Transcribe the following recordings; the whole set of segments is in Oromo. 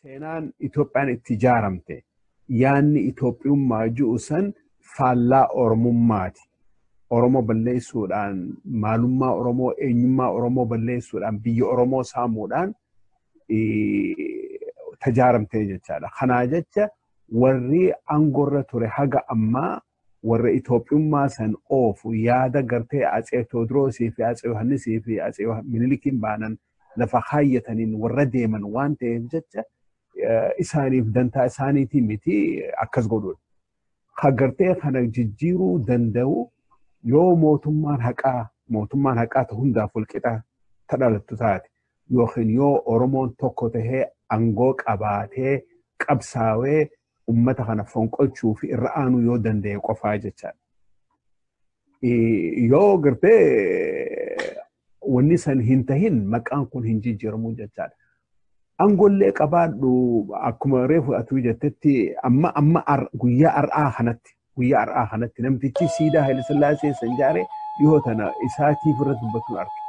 Seenaan Itoophiyaan itti ijaaramte yaanni Itoophiyummaa jiru san faallaa Oromummaati. Oromoo balleessuudhaan maalummaa Oromoo eenyummaa Oromoo balleessuudhaan biyya Oromoo saamuudhaan tajaaramtee jechaadha. Kanaa jecha warri aangorra ture haga ammaa warra Itoophiyummaa san oofu yaada gartee Atsee Tewodroosii fi Atsee Yohaannisii fi Atsee Minilikiin baanan lafa kaayyataniin warra deeman waan ta'eef jecha isaaniif dantaa isaaniitii miti akkas godhuun. Ka gartee kana jijjiiruu danda'u yoo mootummaan haqaa mootummaan haqaa ta hundaaf walqixa ta dhalattu taate yookiin yoo Oromoon tokko tahee angoo qabaatee qabsaawee ummata kana fonqolchuu fi irra aanuu yoo danda'e qofaa jechaadha. Yoo gartee wanni san hin tahin maqaan kun hin jijjiiramu jechaadha. Angollee qabaadhu akkuma reefu atuu jettetti amma amma guyyaa har'aa kanatti guyyaa har'aa kanatti namtichi siidaa Hayilasillaasee san ijaare dhihoo tana isaatiif irra dubbatuun arge.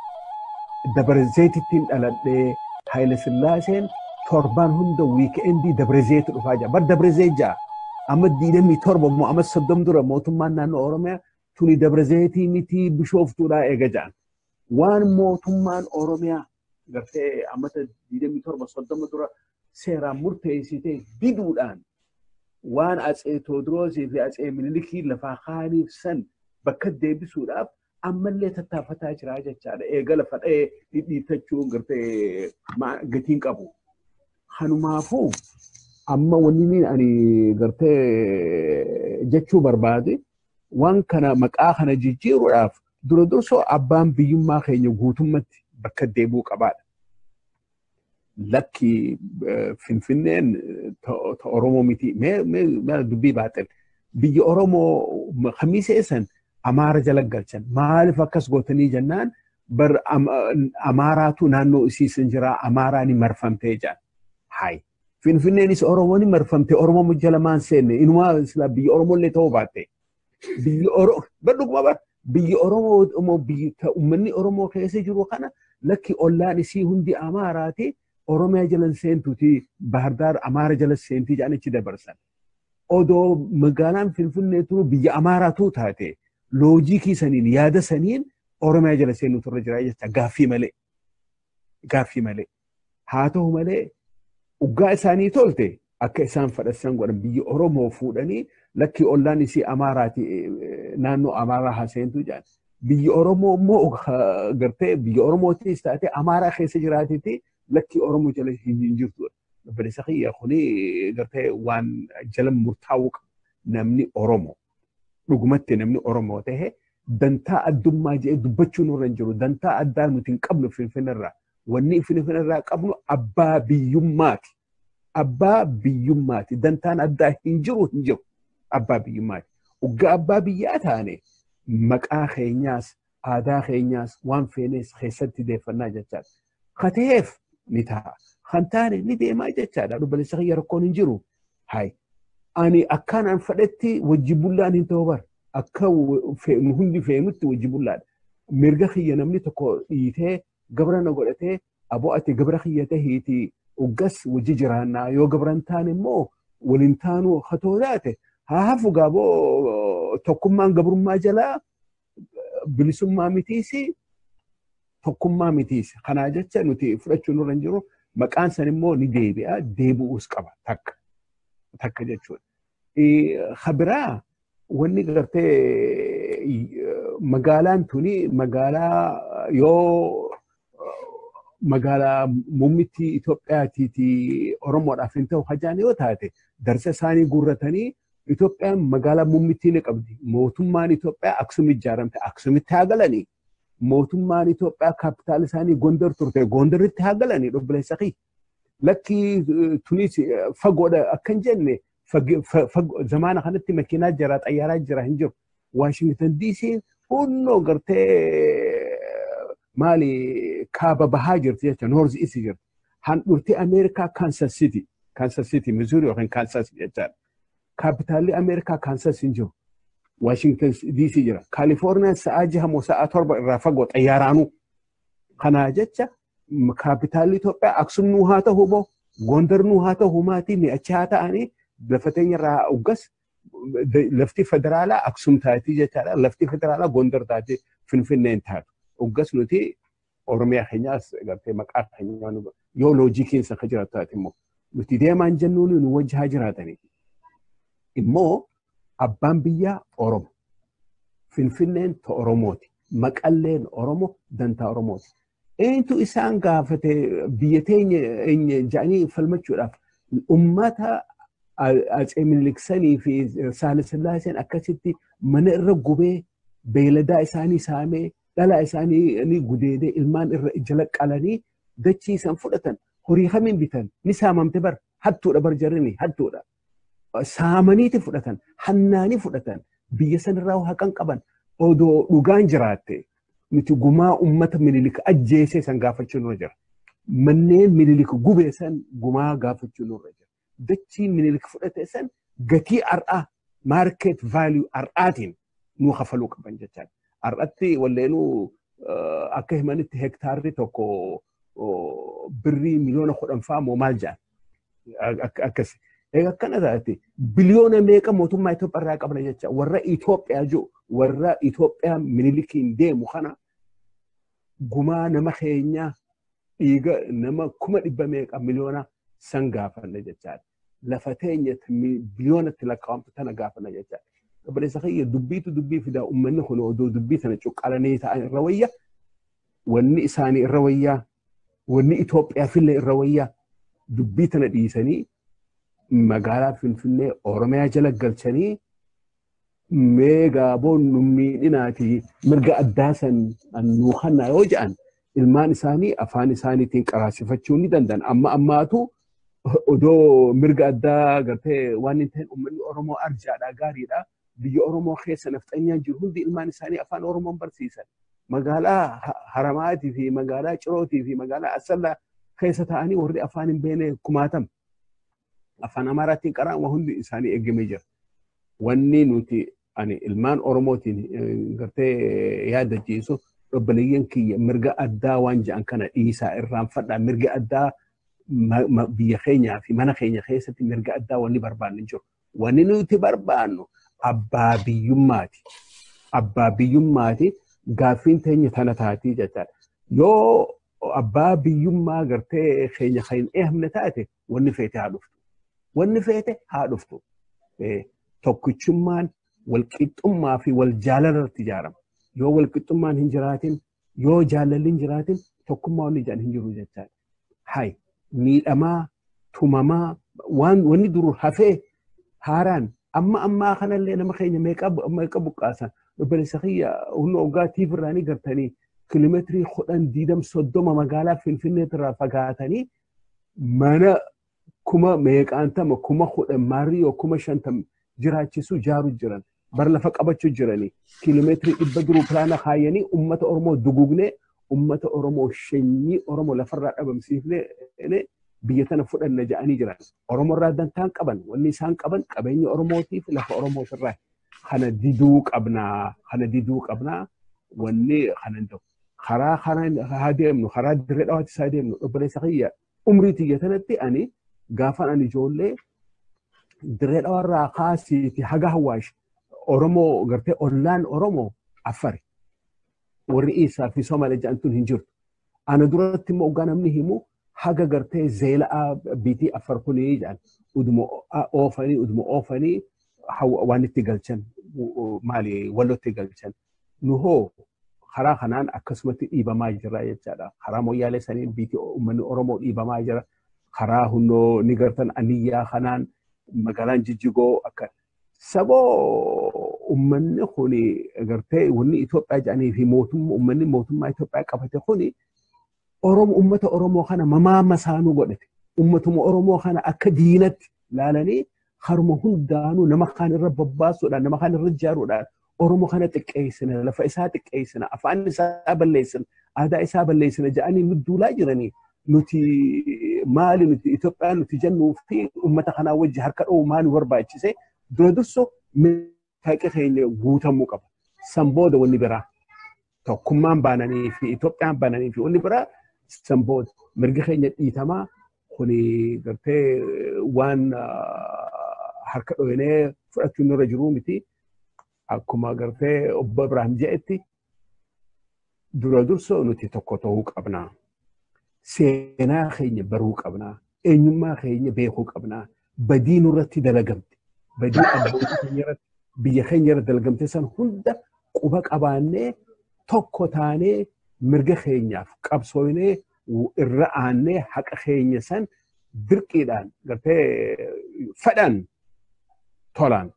Dabarezeetittiin dhaladhee Hayilasillaaseen torbaan hunda wiikeendii Dabarezeetu dhufaa jira. Bar Dabarezee jaa amma diidamii torba immoo amma soddom dura mootummaan naannoo Oromiyaa tuni Dabarezeetii mitii bishooftuudhaa eega jaan. Waan mootummaan Oromiyaa gartee ammata 27-30 dura seeraan murteessitee diduudhaan waan atsee Toodiroosii fi atsee Minilikii lafaa kaaniif san bakka deebisuudhaaf ammallee tattaafataa jiraa jechaadha. Eega lafa dha'ee dhidhiittachuu gartee gatiin qabu. Kanumaafuu amma wanni ani gartee jechuu barbaade waan kana maqaa kana jijjiiruudhaaf Dura dursoo abbaan biyyummaa keenya guutummatti bakka deebi'uu qabaadha. Lakki Finfinneen ta Oromoo miti. Mee dubbii baaxil. Biyya Oromoo kamiisa eessan Amaara jala galchan. Maaliif akkas gootanii jennaan bar Amaaraatu naannoo isiisan jira Amaaraa ni marfamtee jedhan. Hayi. Finfinneenis Oromoo ni marfamte Oromoo jala maan seenne inumaa biyya Oromoo illee ta'uu baatte. Biyyi Oromoo, badhuguma bara, biyyi Oromoo immoo biyyi ta- uummanni Oromoo keessa jiru kana lakki ollaan isii hundi Amaaraati, Oromiyaa jala hin seentuti, Baahirdaar Amaara jala seentii jedhan achi dabarsan. Odoo magaalaan Finfinnee turu biyya Amaaraatu taate, loojikii saniin, yaada saniin Oromiyaa jala seenuu turre jira jecha gaaffii malee. gaaffii malee. Haa ta'u malee dhugaa isaanii tolte akka isaan fadhassan godhan biyya Oromoo fuudhanii lakkii ollaan isii Amaaraati naannoo Amaaraa haaseentu jedhan. Biyya Oromoo immoo gartee biyya Oromootis taatee Amaaraa keessa jiraatiti lakkii Oromoo jala hin jirtu. Obboleessa kiyya kuni gartee waan jala murtaa'uu qabu namni Oromoo. Dhugumatti namni Oromoo ta'e dantaa addummaa jedhee dubbachuu nurra hin jiru. Dantaa addaa nuti hin qabnu Finfinneerraa. Wanni Finfinneerraa qabnu abbaa biyyummaati. Abbaa biyyummaati. Dantaan addaa hin jiru hin jiru. Abbaa biyyummaati. Oggaa abbaa biyyaa taane maqaa keenyaas aadaa keenyaas waan feenees keessatti deeffannaa jechaadha. Ka ta'eef ni ta'a. Kan taane ni deemaa jechaadha. Obboleessa kiyya rakkoon hin jiru. Hayi. Ani akkaan an fedhetti wajji bullaan hin ta'u bar. Akka hundi feenutti wajji bullaadha. Mirga kiyya namni tokko dhiitee gabra na godhatee aboo ati gabra kiyya tahiitii uggas wajji jiraannaa yoo gabran taane immoo waliin taanuu hatoo taate haa hafu gaaboo tokkummaan gabrummaa jalaa bilisummaa mitiis tokkummaa mitiis. Kanaa jecha nuti fudhachuu nurra hin jiru. Maqaan san immoo ni deebi'a deebi'uus qaba takka takka jechuudha. Habiraa wanni gartee magaalaan tuni magaalaa yoo magaalaa muummitti Itoophiyaatiiti Oromoodhaaf hin ta'u hajaan yoo taate darsa isaanii guurratanii Itoophiyaan magaalaa muummittii ni qabdi. Mootummaan Itoophiyaa Aksum ijaaramte Aksumitti haa galanii. Mootummaan Itoophiyaa kaapitaal isaanii Gondar turte Gondaritti haa galanii dhobbileessa kiyya. lakkii tunis fagoodha akka hin jenne zamaana kanatti makiinaa jira xayyaaraa jira hin jiru. Waashingtan diisiin hunnoo gartee maali kaaba bahaa jirti jecha noorzi isi jirti. Handhurtii Ameerikaa Kaansas Siti Kaansas Siti Mizuuri yookiin Kaansas jechaadha. Kaapitaalli Ameerikaa Kaansas hin jiru. Waashingtan diisii jira. Kaalifoorniyaan sa'aa jaha moo sa'aa torba irraa fagoo xayyaaraanuu. Kanaa jecha kaapitaalli Itoophiyaa Aksum nuu haa ta'u moo Gondar nuu haa ta'u maatii mee achi haa ta'anii lafa teenya irraa uggas lafti federaalaa Aksum taatii jechaadha. Lafti federaalaa Gondar taatii Finfinneen taatu. Uggas nuti Oromiyaa keenyaas gartee maqaa keenyaa nu yoo loojii keessa akka jiraatu taate immoo nuti deemaan jennuun nu wajji haa jiraatanii. Immoo abbaan biyyaa Oromo. Finfinneen ta Oromooti. Maqalleen Oromo dantaa Oromooti. Eenyutu isaan gaafate biyya teenya eenye jedhanii falmachuudhaaf ummata Atsee Minilik sanii fi Saale Sillaaseen akkasitti mana irra gubee beeyladaa isaanii saamee dhalaa isaanii ni gudeedee ilmaan irra jala qalanii dachii isaan fudhatan horii kamiin bitan ni saamamte bar hattuudha bar jarrini hattuudha. saamaniiti fudhatan hannaanii fudhatan biyya sanirraa haqan qaban odoo dhugaan jiraatte nuti gumaa ummata minilik ajjeesee san gaafachuu nurra jira. Manneen minilik gubee san gumaa gaafachuu nurra jira. Dachii minilik fudhate san gatii har'aa maarkeet vaaliyuu har'aatiin nuu kafaluu qaban jechaa. Har'atti walleenuu akka himanitti hektaarri tokko birrii miliyoona kudhan fa'aa moo maal jedhan. akkas akkana taate biliyoona meeqa mootummaa Itoophiyaa irraa qabna jecha warra Itoophiyaa jiru warra Itoophiyaa minilikiin deemu kana gumaa nama keenyaa dhiiga nama kuma dhibba meeqa miliyoona san gaafanna jechaadha. Lafa teenya biliyoonatti lakkaa'amtu tana gaafanna jechaadha. Obboleessa kiyya dubbiitu dubbii fidaa uummanni kun odoo dubbii sana cuqqalanii ta'an irra wayya wanni isaanii irra wayyaa wanni Itoophiyaafillee irra wayyaa dubbii tana dhiisanii magaalaa Finfinnee Oromiyaa jala galchanii mee gaaboon nu miidhinaati mirga addaa san nuu kannaa yoo jedhan ilmaan isaanii afaan isaaniitiin qaraasifachuu ni danda'an amma ammaatu odoo mirga addaa gartee waan hin ta'in uummanni Oromoo arjaadha gaariidha biyya Oromoo keessa nafxanyaan jiru hundi ilmaan isaanii afaan Oromoon barsiisan. Magaalaa Haramaatii fi magaalaa Cirootii fi magaalaa Asallaa keessa taa'anii warri afaan hin beekne kumaatam. Afaan Amaaraatiin qaraan waa hundi isaanii eegamee jira. Wanni nuti ani ilmaan Oromootiin gartee yaada jiisu obboleeyyan kiyya mirga addaa waan jedhan kana dhiisaa irraanfadhaa mirga addaa biyya keenyaa fi mana keenya keessatti mirga addaa wanni barbaanne jiru. Wanni nuti barbaannu abbaa biyyummaati. Abbaa biyyummaati gaaffiin teenya tana taatii jechaadha. Yoo abbaa biyyummaa gartee keenya kan hin eehamne taate wanni feete haa dhuftu. Wanni feete haa dhuftu. Tokkichummaan walqixxummaa fi wal jaalala irratti ijaarama. Yoo walqixxummaan hin jiraatin yoo jaalalli hin jiraatin tokkummaa wanni jedhan hin jiru jechaadha. Hay miidhamaa tumamaa waan wanni duru hafee haaraan amma ammaa kanallee nama keenya meeqa meeqa buqqaasan obboleessa kiyya humna hoggaa tiif irraanii gartanii kiiloomeetirii kudhan diidam soddoma magaalaa finfinneetti irraa fagaatanii mana kuma meeqaantama kuma kudhan maarriyyoo kuma shantam jiraachisuu jaaru jiran bar lafa qabachuu jiranii kiiloomeetirii dhibba duruu pilaana kaayanii ummata Oromoo dugugnee ummata Oromoo shanyii Oromoo lafarraa dhabamsiifnee biyya tana fudhanna ja'anii jiran. Oromoo irraa dantaan qaban wanni isaan qaban qabeenya Oromootii fi lafa Oromoos irraa kana diduu qabnaa kana diduu qabnaa wanni kana hin ta'u. Karaa kana haa deemnu karaa dirree dhawaatti isaa deemnu obboleessa kiyya umrii tiyya tanatti ani gaafan ani ijoollee dirree dhawarraa kaasiiti haga hawaash Oromoo gartee ollaan Oromoo affari. Warri Iisaa fi Somalee jedhamtuun hin jirtu. Ana duratti immoo oggaa namni himu haga gartee zeela'aa biitii affar kunii jedhan uduma oofanii uduma oofanii waan itti galchan maali walotti galchan. nu hoo karaa kanaan akkasumatti dhiibamaa jira jechaadha. Karaa moyyaalee saniin biiti uummanni Oromoo dhiibamaa jira. Karaa hundoo ni gartan aniyyaa kanaan magaalaan jijjigoo akka saboo uummanni kun gartee wanni Itoophiyaa jedhanii fi mootummaa uummanni mootummaa Itoophiyaa qabate kun Oromo ummata Oromoo kana mamaa masaanuu godhate. Ummatuma Oromoo kana akka diinatti laalanii haruma hundaanuu nama kaan irra babbaasuudhaan nama kaan irra ijaaruudhaan Oromoo kana xiqqeessina lafa isaa xiqqeessina afaan isaa balleessina aadaa isaa balleessina jedhanii nu duulaa jiranii nuti maali nuti Itoophiyaa nuti jennuu fi ummata kanaa wajji harka dha'uu maal nu barbaachise dura durso taqi keenya guutamuu qaba. San booda wanni biraa tokkummaan baananii fi Itoophiyaan baananii fi wanni biraa san booda mirgi keenya dhiitamaa kuni gartee waan harka dhohinee fudhachuun nurra jiruu miti. Akkuma gartee obbo Ibrahim jedhetti dura dursoo nuti tokko ta'uu qabna. Seenaa keenya baruu qabna. Eenyummaa keenya beekuu qabna. Badii nurratti dalagamte. Badii abbootii keenya irratti biyya keenya irratti dalagamte san hunda quba qabaannee tokko taanee mirga keenyaaf qabsoofnee irra aannee haqa keenya san dirqiidhaan gartee fedhan tolaan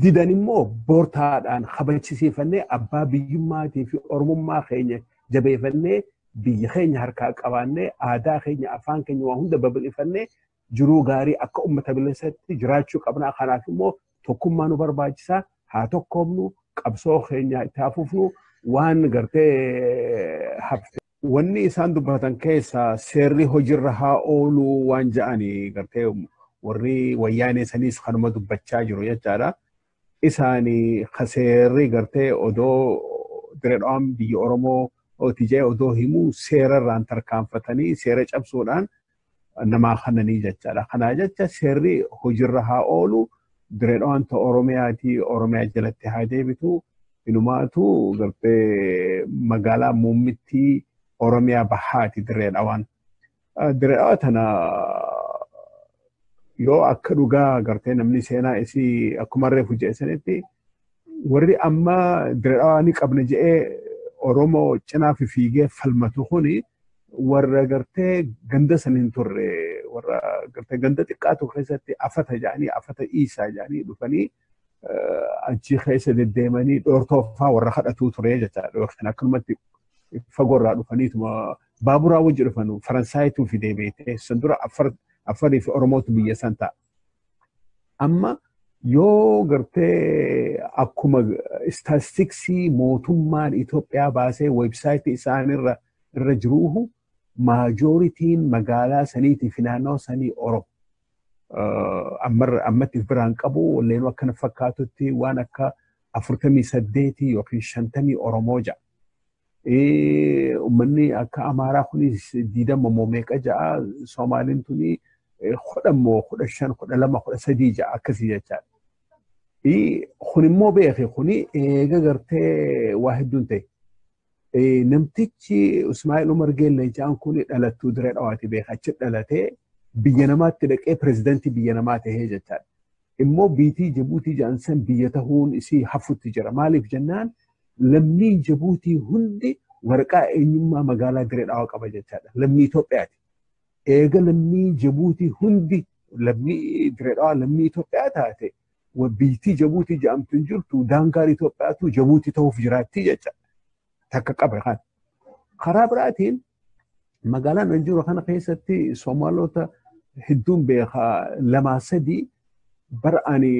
didan immoo bortaadhaan kabachisiifannee abbaa biyyummaatii fi oromummaa keenya jabeeffannee biyya keenya harkaa qabaannee aadaa keenya afaan keenya waa hunda babal'ifannee jiruu gaarii akka uummata bilisatti jiraachuu qabna kanaaf immoo tokkummaa nu barbaachisaa haa tokkoomnu qabsoo keenya itti haa fufnu waan gartee hafte. Wanni isaan dubbatan keessaa seerri hojiirra haa oolu waan ja'ani gartee warri wayyaanee saniis kanuma dubbachaa jiru jechaadha. Isaani ka seerri gartee odoo diredhaan biyya Oromoo ooti ja'e odoo himu seerarraan tarkaanfatanii seera cabsuudhaan namaa kananii jechaadha. Kanaa jecha seerri hojiirra haa oolu direedhaan ta Oromiyaatii Oromiyaa jalatti haa deebitu inumaatu gartee magaalaa muummittii Oromiyaa bahaati direedhaan. Direedhaa tana yoo akka dhugaa gartee namni seenaa isii akkuma reefu jeesanitti warri amma diradhawaa ni qabna jedhee Oromoo cinaaf fiigee falmatu kuni warra gartee ganda san hin turre warra gartee ganda xiqqaatu keessatti afata jedhanii afata dhiisaa jedhanii dhufanii achi keessa deddeemanii dhoortoofaa warra kadhatuu ture jechaadha yookiin akkanumatti fagoorraa dhufaniituma baaburaa wajji dhufanu Faransaayituufi deebiitee san dura Affarii fi Oromootu biyya san ta'a. Amma yoo gartee akkuma istaastiksii mootummaan Itoophiyaa baasee weebsaayitii isaan irra irra jiruuhu maajooritiin magaalaa saniitii fi naannoo sanii Oromo. Ammatti biraan qabu walleenuu akkana fakkaatutti waan akka afurtamii saddeetii yookiin shantamii Oromoo ja'a. Uummanni akka Amaaraa kunis diidama moo meeqa ja'a Soomaaliin tuni kudha moo kudha shan kudha lama kudha sadii ja'a akkasii jechaadha. Kun immoo beeke kuni eega gartee waa hedduun ta'e. Namtichi Ismaa'il Umar Geellee ja'an kuni dhalattuu diree dhawaati beeka achi dhalatee biyya namaatti dhaqee pirezidantii biyya namaa ta'ee jechaadha. Immoo biitii Jibuutii ja'an san biyya tahuun isii hafutti jira. Maaliif jennaan Lammiin Jibuutii hundi waraqaa eenyummaa magaalaa Dirree Dhawaa qaba jechaadha. Lammii Itoophiyaati. Eega lammii Jibuutii hundi lammii Dirree Dhawaa lammii Itoophiyaa taate biyyattii Jibuutii jedhamtu hin jirtu daangaan Itoophiyaatu Jibuutii ta'uuf jiraatti jechaadha. Takka qabra kana. Karaa biraatiin magaalaan an jiru kana keessatti Soomaalota hedduun beekaa lamaa sadii bara ani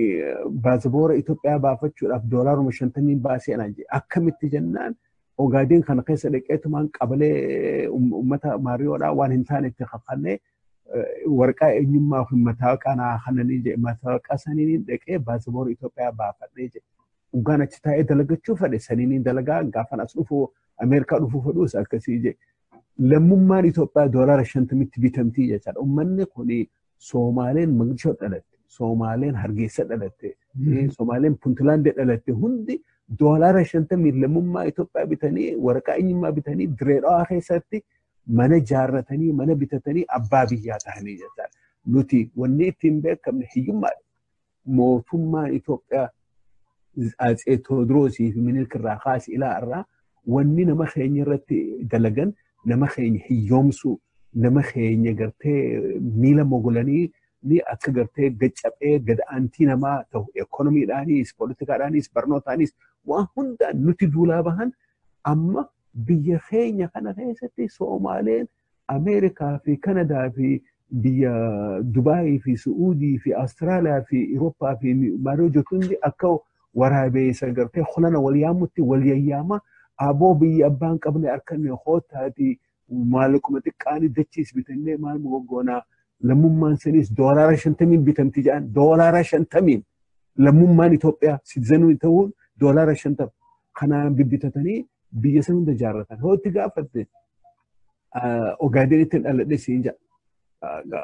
baasaboora Itoophiyaa baafachuudhaaf doolaaruma shantamiin baasee anaan jedhe akkamitti jennaan ogaadeen kana keessa dhaqeetumaan qabalee uummata maariyoodhaa waan hin taane itti kakannee warqaa eenyummaa fi mataaqa naa kananii jedhe mataaqa saniin dhaqee baasaboora Itoophiyaa baafadhee jedhe. Dhugaan achi taa'ee dalagachuu fedhe saniin dalagaa gaafan as dhufu Ameerikaa dhufuu fedhuus akkasii ije. Lammummaan Itoophiyaa doolaara shantamitti bitamtii jechaadha. Uummanni kun Soomaaleen Maqdishoo dhalatte, Soomaaleen Hargeessa dhalatte, Soomaaleen Puntilaandee dhalatte hundi doolaara shantamii lammummaa Itoophiyaa bitanii waraqaa eenyummaa bitanii direedhaa keessatti mana ijaarratanii mana bitatanii abbaa biyyaa tahanii jechaadha. Nuti wanni ittiin beekamne hiyyummaadha. mootummaan Itoophiyaa Atsee Tewoodiroosii fi Minilik irraa kaasi ilaa irraa wanni nama keenya irratti dalagan nama keenya hiyyoomsuu nama keenya gartee miila mogolanii ni akka gartee gad caphee gad aantii namaa ta'u ekonomiidhaanis poolitikaadhaanis barnootaanis waan hundaan nuti duulaa bahan amma biyya keenya kana keessatti Soomaaleen Ameerikaa fi Kanadaa fi biyya Dubaayii fi Su'uudii fi Awustiraaliyaa fi Irooppaa fi Maariyoo jirtu hundi akka waraabeessa gartee holana wal yaamutti wal yayyaama aboo biyya abbaan qabne harkanne hootaati maallaquma xiqqaanii dachiis bitannee maal mogoggoonaa lammummaan saniis doolaara shantamiin bitamti jedhan doolaara shantamiin lammummaan Itoophiyaa siitizanuun ta'uun doolaara shantama kanaan bibbitatanii biyya san hunda jaarratan hootti gaafatte Ogaadenitti dhaladhe siin jedha.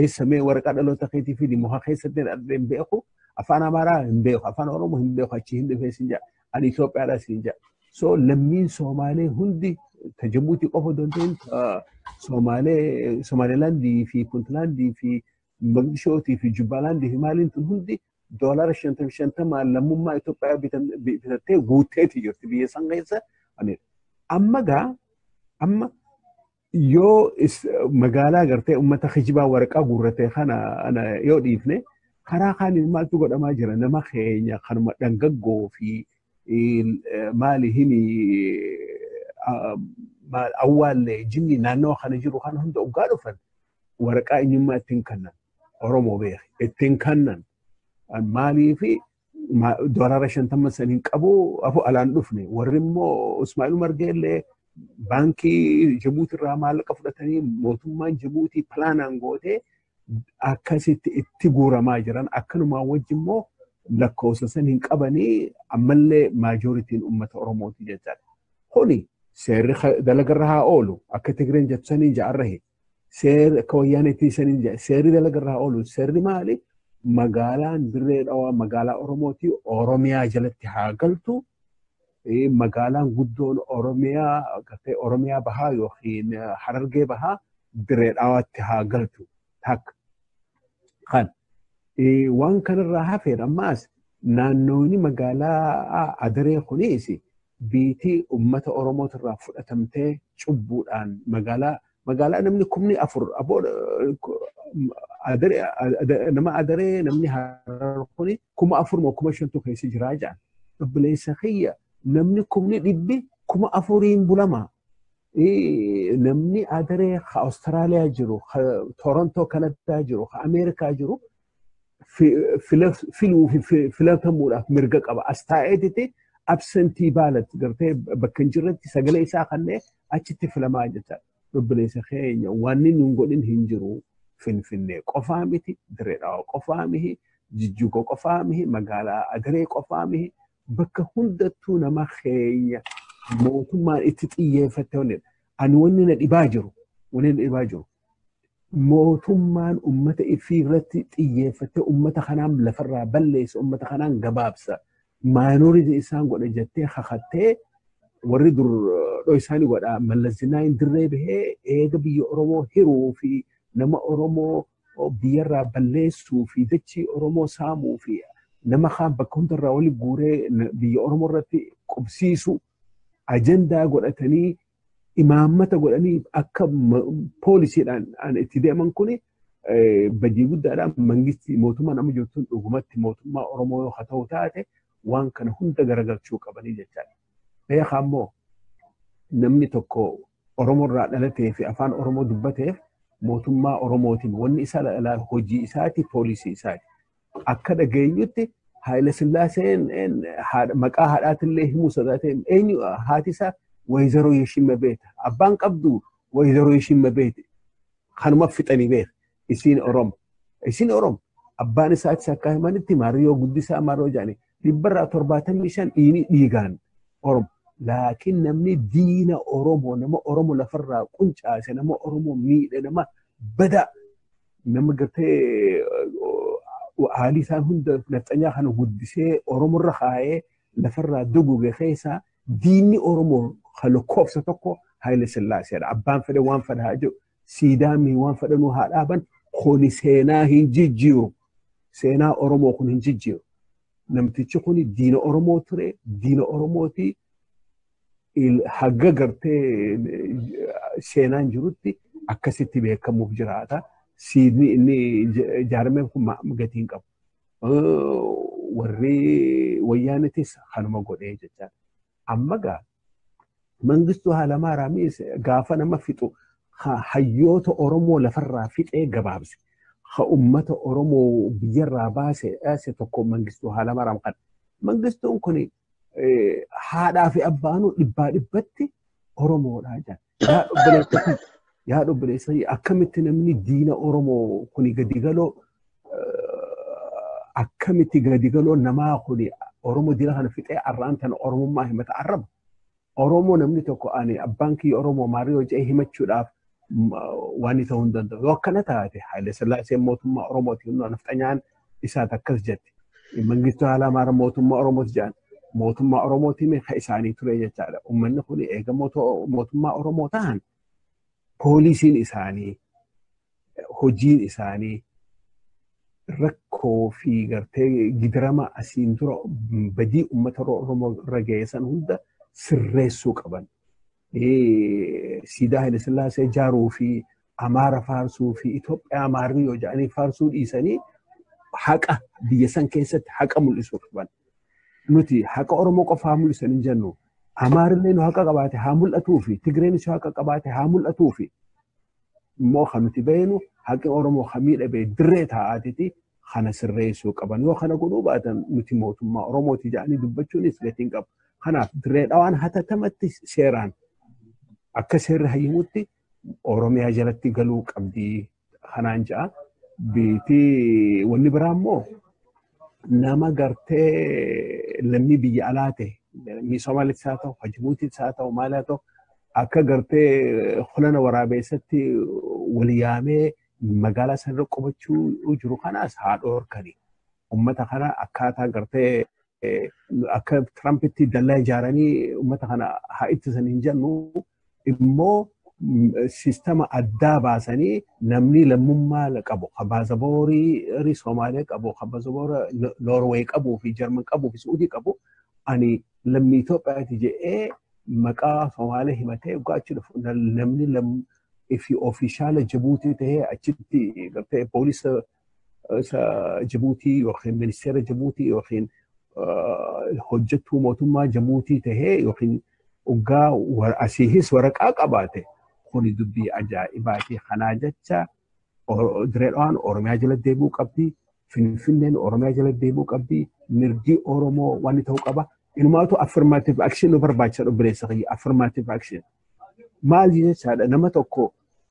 Eessa mee waraqaa dhaloota keetii fi mohaa keessatti dhaladhe hin beeku. Afaan Amaaraa hin beeku. Afaan Oromoo hin beeku. Achi hin dhufee siin jedha. Ani Itoophiyaadhaa siin jedha. So lammiin Soomaalee hundi ta Jabuutii qofa osoo hin ta'in Soomaalee Somaalilaandii fi Puntlaandii fi Mogadishootii fi Jubbalaandii fi maaliin tun hundi doolaara shantam shantamaan lammummaa Itoophiyaa bitan- bi- bitattee guutteeti jirti biyya san keessa. Ani- Amma gaa amma yoo is- magaalaa gartee uummata kijibaa waraqaa guurrate kana ana yoo dhiifne karaa kaaniin maaltu godhamaa jira nama keenya kanuma dhangaggoo fi maali himi awwaallee jinni naannawa kana jiru kana hunda oggaa dhufan waraqaa eenyummaa ittiin kannan Oromoo beeki ittiin kannan maalii fi doolaara shantama san hin qabu afu alaan dhufne warri immoo Ismaa'il Umar Geellee baankii Jibuuti irraa maallaqa fudhatanii mootummaan Jibuutii pilaanaan gootee akkasitti itti guuramaa jiran akkanumaa wajji immoo lakkoofsa san hin qabanii ammallee maajooritiin uummata Oromooti jechaa kuni seerri dalagarra haa oolu akka Tigreen jettu saniin ja'arrahe seerri akka wayyaaneetti saniin ja'a seerri dalagarra haa oolu seerri maali magaalaan dirree dhawaa magaalaa Oromooti Oromiyaa jalatti haa galtu magaalaan guddoon Oromiyaa gartee Oromiyaa bahaa yookiin Harargee bahaa diree dhawaatti haa galchu takka. Kan waan kanarraa hafeedha ammaas naannooni magaalaa Adaree kunis biitii uummata Oromootirraa fudhatamtee cubbuudhaan magaalaa magaalaa namni kumni afur aboo nama adaree namni harar kuni kuma afur moo kuma shantu keessa jiraa jaan obboleessa kiyya namni kumni dhibbi kuma afuriin bulama namni adaree ka Awustiraaliyaa jiru ka Torontoo Kanadaa jiru ka Ameerikaa jiru filuu fi filatamuudhaaf mirga qaba. As taa'eetiti absentii baalat gartee bakka hin jirretti sagalee isaa kannee achitti filamaa jecha obboleessa keenya waan inni hin godhin hin jiru finfinnee qofaa miti direedhawa qofaa mihi jijjuuga qofaa mihi magaalaa adaree qofaa mihi bakka hundattuu nama keenya mootummaan itti xiyyeeffatte wanni ani wanni na dhibaa jiru wanni na dhibaa jiru mootummaan ummata ifii irratti xiyyeeffattee ummata kanaan lafarraa balleessa ummata kanaan gabaabsa maayinooritii isaan godha jettee kakattee warri dur dhoysaanii godha mallas zinaayin dirree bahee eega biyya oromoo hiruu fi nama oromoo biyyarraa balleessuu fi dachii oromoo saamuu fi nama kaan bakka hundarraa wali guuree biyya oromoo irratti qubsiisu ajandaa godhatanii imaammata godhanii akka poolisiidhaan an itti deeman kun badii guddaadhaan mangistii mootummaan amma jirtu dhugumatti mootummaa Oromoo yoo haa ta'u taate waan kana hunda garagalchuu qabanii jechaadha. Beekaa immoo namni tokko Oromoo irraa dhalatee fi afaan Oromoo dubbateef mootummaa Oromootiin wanni isaa hojii isaati poolisii isaati. akka dhageenyutti Haayila Sillaaseen maqaa haadhaatillee himuu sodaatee eenyu haati isaa Wayizaroo Yeshimma Beeta. Abbaan qabdu Wayizaroo Yeshimma Beeta. Kanuma fixanii beeta. Isiin Oromo. Isiin Oromo. Abbaan isaatis akka himanitti Maariyoo Guddisaa Maariyoo Jaanii. dhibbarraa torbaatamii shan dhiinii dhiigaan Oromo. Laakiin namni diina Oromoo nama Oromo lafarraa quncaase nama Oromoo miidhe nama badaa nama gartee haalii isaan hunda nafxanyaa kana guddisee Oromorra kaa'ee lafarraa duguge keessaa diinni Oromoo kan lakkoofsa tokko Haayile Sillaaseedha. Abbaan fedhe waan fedhaa jiru siidaa mii waan fedhanuu haa dhaaban kuni seenaa hin jijjiiru. Seenaa Oromoo kun hin jijjiiru. Namtichi kun diina Oromoo ture, diina Oromooti hagga gartee seenaan jirutti akkasitti beekamuuf jiraata. Siidni inni ijaarame kun gatii hin qabu. Warri wayyaanetis kanuma godhee jechaa. Amma gaa mangistuu Haalamaaraamii gaafa nama fixu hayyoota Oromoo lafarraa fixee gabaabse. Ha uummata Oromoo biyyarraa baase dhaase tokko mangistuu Haalamaaraam kana. Mangistuun kun haadhaa fi abbaanuu dhibbaa dhibbatti Oromoodhaa jedha. Yaa obboleessa kiyya, yaa obboleessa kiyya, akkamitti namni diina Oromoo kuni gadi galoo eh, akkamitti gadi galoo namaa kuni Oromoo diina kana fixee arraan tana Oromummaa himata arraba. Oromoo namni tokko ani abbaan kiyya Oromoo maarii hojii himachuudhaaf m- waan ta'uu hin danda'u. Yoo akkana taate Haile Sillaaseen mootummaa Oromooti humna nafxanyaan isaat akkas jette. Mangistuu Haalamaara mootummaa Oromooti jedhan. Mootummaa Oromootiin kan isaanii ture jechaadha. Uummanni kun eega mootummaa Oromoo ta'an poolisiin isaanii hojiin isaanii rakkoo fi gartee gidirama asiin dura badii uummata Oromoo irra ga'eessan hunda sirreessuu qaban. siidaa Haile Sillaasee ijaaruu fi Amaara faarsuu fi Itoophiyaa Amaarri yoo jedhanii faarsuu dhiisanii haqa biyya san keessatti haqa mul'isuu qaban. Nuti haqa Oromoo qofaa mul'isan hin jennu. Amaarillee nu haqa qabaate haa mul'atuu fi Tigreenis yoo haqa qabaate haa mul'atuu fi immoo kan nuti beeknu haqni Oromoo kan miidhame dirree taa'aatiti kana sirreessuu qaban yoo kana godhuu baatan nuti mootummaa Oromooti jedhanii dubbachuunis gatiin qabu. Kanaaf dirree dhawaan hatatamatti seeraan akka seerri hayyamutti Oromiyaa jalatti galuu qabdi kanaan ja'a. Biitii wanni biraa immoo nama gartee lammii biyya alaa ta'e lammii Somaaliis haa ta'u, Jibuutiis haa ta'u, maal haa ta'u akka gartee hulana waraabeessatti wal yaamee magaalaa sanarra qubachuu jiru kanaas haa dhoorkani. Uummata kana akkaataa gartee akka Tirampitti dallaa ijaaranii uummata kana haa ittisan hin jennu immoo sistama addaa baasanii namni lammummaa qabu kan baasaboorii Somaaliyaa qabu kan baasaboora Noorweey qabuu fi Jarman qabuu fi Suudii qabu ani lammii Itoophiyaati jedhee maqaa Somaaliyaa himatee waggaa achi dhufu namni fi ofiishaala Jibuutii ta'ee achitti gartee poolisa isa Jibuutii yookiin ministeera Jibuutii yookiin hojjettuu mootummaa Jibuutii ta'ee yookiin oggaa asiihis waraqaa qabaate kuni dubbii ajaa'ibaatii kanaa jecha Direedhaan Oromiyaa jala deebi'uu qabdi. Finfinneen Oromiyaa jala deebi'uu qabdi. Mirgi Oromoo waan ta'uu qaba. Inumaatu affirmative action nu barbaachisa obboleessa kiyya affirmative action. Maali jechaadha nama tokko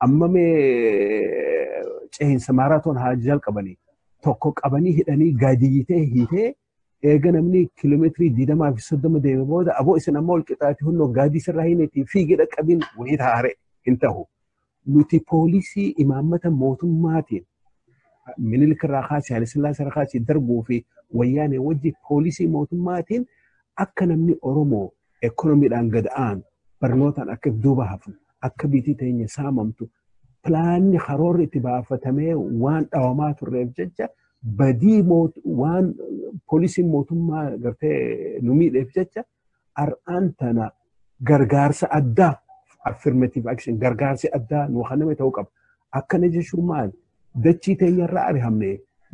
amma mee cehinsa maaraatoon haa jalqabanii tokko qabanii hidhanii gaadiyyi ta'e hiitee eega namni kiiloomeetirii digdamaa fi soddoma deeme booda aboo isin amma ol qixaati hunnoo gaadii sirraa hineetii fiigee dhaqqabiin wayii taa'are hin ta'u. Nuti poolisii imaammata mootummaatiin Minilik irraa kaasee Haayilasillaasee irraa kaasee Darguu fi Wayyaanee wajji poolisii mootummaatiin akka namni Oromoo ekonomiidhaan gad aanu barnootaan akka duuba hafnu akka biitii teenya saamamtu pilaanni karoorri itti baafatamee waan dhawamaa turreef jecha badii waan poolisiin mootummaa gartee nu miidheef jecha har'aan tana gargaarsa addaa affirmative action gargaarsi addaa nu kenname ta'uu qaba. Akkana jechuun maal? Dachii teenya irraa arihamne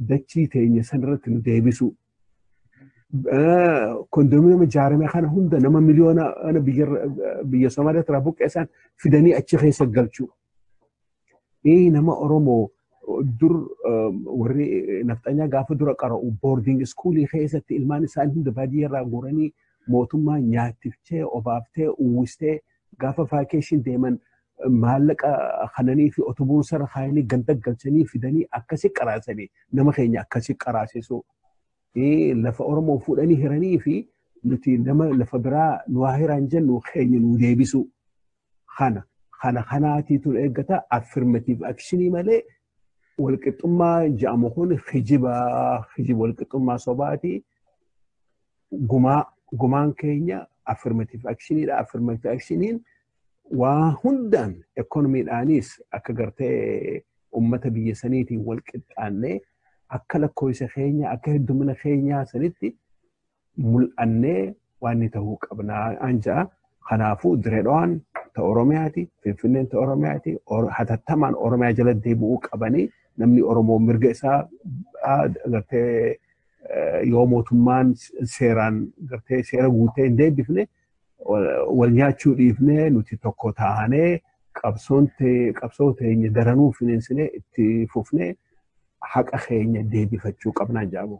dachii teenya sanarratti nu deebisuu. Kondominiyeema ijaarame kana hunda nama miliyoona biyya Somaaliyaa irraa buqqeessan fidanii achi keessa galchuu. Ee nama Oromoo dur warri nafxanyaa gaafa dura qara'u boarding iskuulii keessatti ilmaan isaanii hunda baadiyyaarraa guuranii mootummaa nyaatiftee obaaftee uwwistee gaafa vaakeeshin deeman maallaqa kananii fi otobuun sara kaayanii ganda galchanii fidanii akkasi qaraasanii nama keenya akkasi qaraasisuu lafa Oromoo fuudhanii hiranii fi nuti nama lafa biraa nu haa hiraan jennu keenya nu deebisuu. kana kana kanaatiitu na eeggata affirmative actionii malee walqixxummaa jedhamu kun kijiba kijiba walqixxummaa sobaati gumaa gumaan keenya affirmative actioniidha affirmative actioniin waa hundaan ekonomiidhaanis akka gartee ummata biyya saniitiin wal qixxaannee akka lakkoofsa keenya akka heddumina keenyaa sanitti mul'annee waan ni ta'uu qabna an ja'a. Kanaafuu direedhaan ta Oromiyaati, Finfinneen ta Oromiyaati, hatattamaan Oromiyaa jala deebi'uu qabanii namni Oromoo mirga isaa gartee yoo mootummaan seeraan gartee seera guutee hin deebifne wal nyaachuu dhiifnee nuti tokko taanee qabsoo teenya daranuu finiinsinee itti fufnee haqa keenya deebifachuu qabnaan jedhamu.